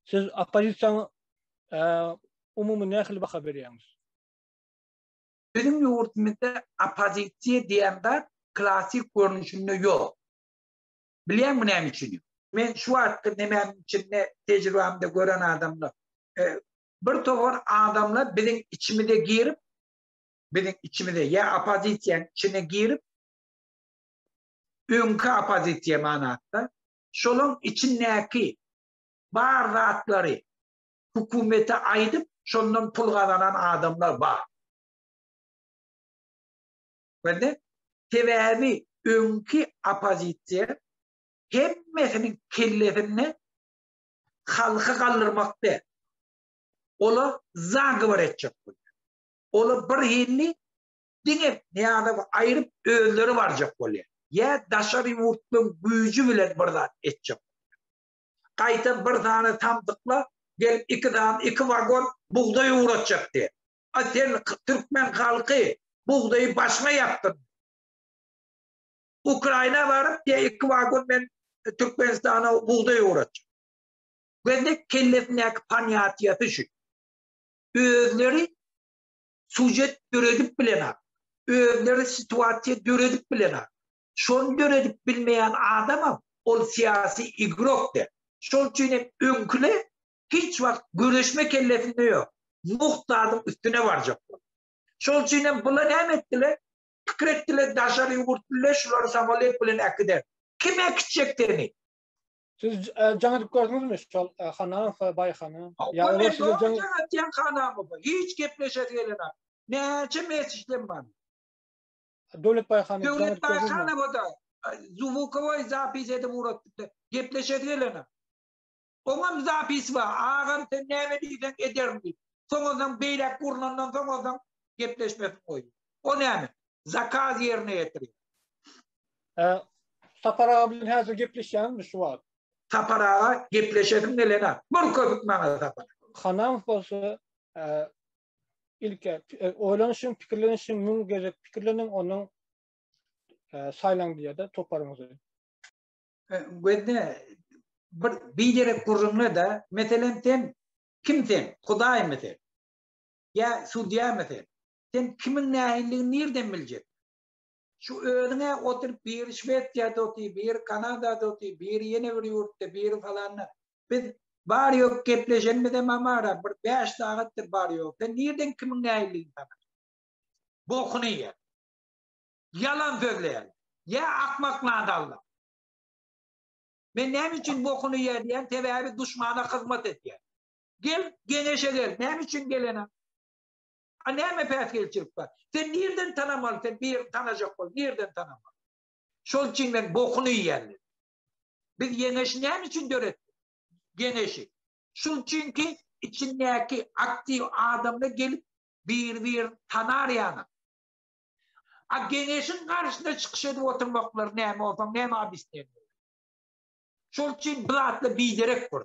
Siz oppozisiýaňa umumy nähili baha berýäňiz? Biziň ýurdumyzda oppozisiýa diýen zat klassyk görnüşinde ýok. Bilýäňmi näme üçin? Men şu wagtky nemäniň içinde tejribämde gören adamlar, bir topar adamlar biziň içimize girip, biziň içimize ýa oppozisiýanyň içine girip, öňki oppozisiýa manatda, şolaň içindäki bar zatlary hökümete aýdyp, şondan pul gazanan adamlar bar. Bende, sebäbi öňki oppozisiýa hemmesiniň kellesinde halky galdyrmak däl, olar zagowar etjek bolýar. Olar bir hilli diňe Nyýazowy aýryp özleri barjak bolýar. Ýa daşary ýurtlaryň güýji bilen bir zat etjek bolýar. Gaýtam bir sany samsyklar gelip iki sany iki wagon bugdaý ugratjak diýýär. A sen türkmen halky bugdaýy başyňa ýapdyň. Ukraina baryp diýýär iki wagon men Türkmenistana bugdaý ugratjak. Gözde kellesindäki panýatiýasy şu. Özleri sujet döredip bilenok, özleri situasiýa döredip bilenok. Şony döredip bilmeýän adamam ol syýasy igrok der. Şol üçin hem öňküler hiç wagt göreşme kellesinde ýok. Mugt zadyň üstüne barjak bolar. Şol üçin hem bular näme etdiler? Pikir etdiler daşary ýurtlylar şulary samolet bilen äkider. Kim äkitjek seni? Siz jaňa dip gördüňizmi şol hanam we baýhana? Ýa olar size jaň atýan hanamy bu? Hiç gepleşesi gelenok. Näçe mesajdan bar. Döwlet baýhana jaňa dip gördüňizmi? Döwlet baýhana boda. Zuwukowy zapis edip ugradypdy. Gepleşesi gelenok. Oňam zapis bar. Agam sen näme diýseň ederin diýip. Soňuzdan beýläk gurnandan soňuzdan gepleşmesini goýdy. O näme? zakaz ýerine ýetirýär. Hä. Sapar aga bilen häzir gepleşýäňizmi şu wagt? Sapar aga gepleşesim gelenok. Bir köpük maňa Sapar. Hanamow bolsa ilki oýlanyşyň, pikirlenişiň, müň gezek pikirleniň, ondan saýlaň diýýär-de toparyňyzy. Gözde, bir biderek gürrüňle-de, meselem, sen kim sen? Hudaýmy sen? Ýa sudýamy sen? Sen kimiň nähilidigini nirden biljek? Şu özüň-ä oturyp biri Şwesiýada otyr, biri Kanadada otyr, biri ýene bir ýurtda, biri falanda. Biz bary-ýogy gepleşenimizem amara bir bäş sagatdyr bary-ýogy. Sen nirden kimiň nähilidigini tanaň? Bokuny ýe. Ýalan sözleýärler. Ýa akmak nadalla. Men näme üçin bokuny ýe diýýän, sebäbi duşmana hyzmat edýän. Gel, geňeşe gel. Näme üçin gelenem? A näme päsgelçilik bar? Sen nirden tanamaly, sen birini tanajak bol, nirden tanamaly? Şol üçin men bokuny iýýän diýdi. Biz Ýeňeşi näme üçin döretdik? Ýeňeşi. Şul üçinki içindäki aktiw adamlar gelip bir-bir tanar ýaly. A Geňeşiň garşyna çykyş edip oturmaklary näme bolsa, näme obisneniýe? Şol üçin bu zatlar biderek bor.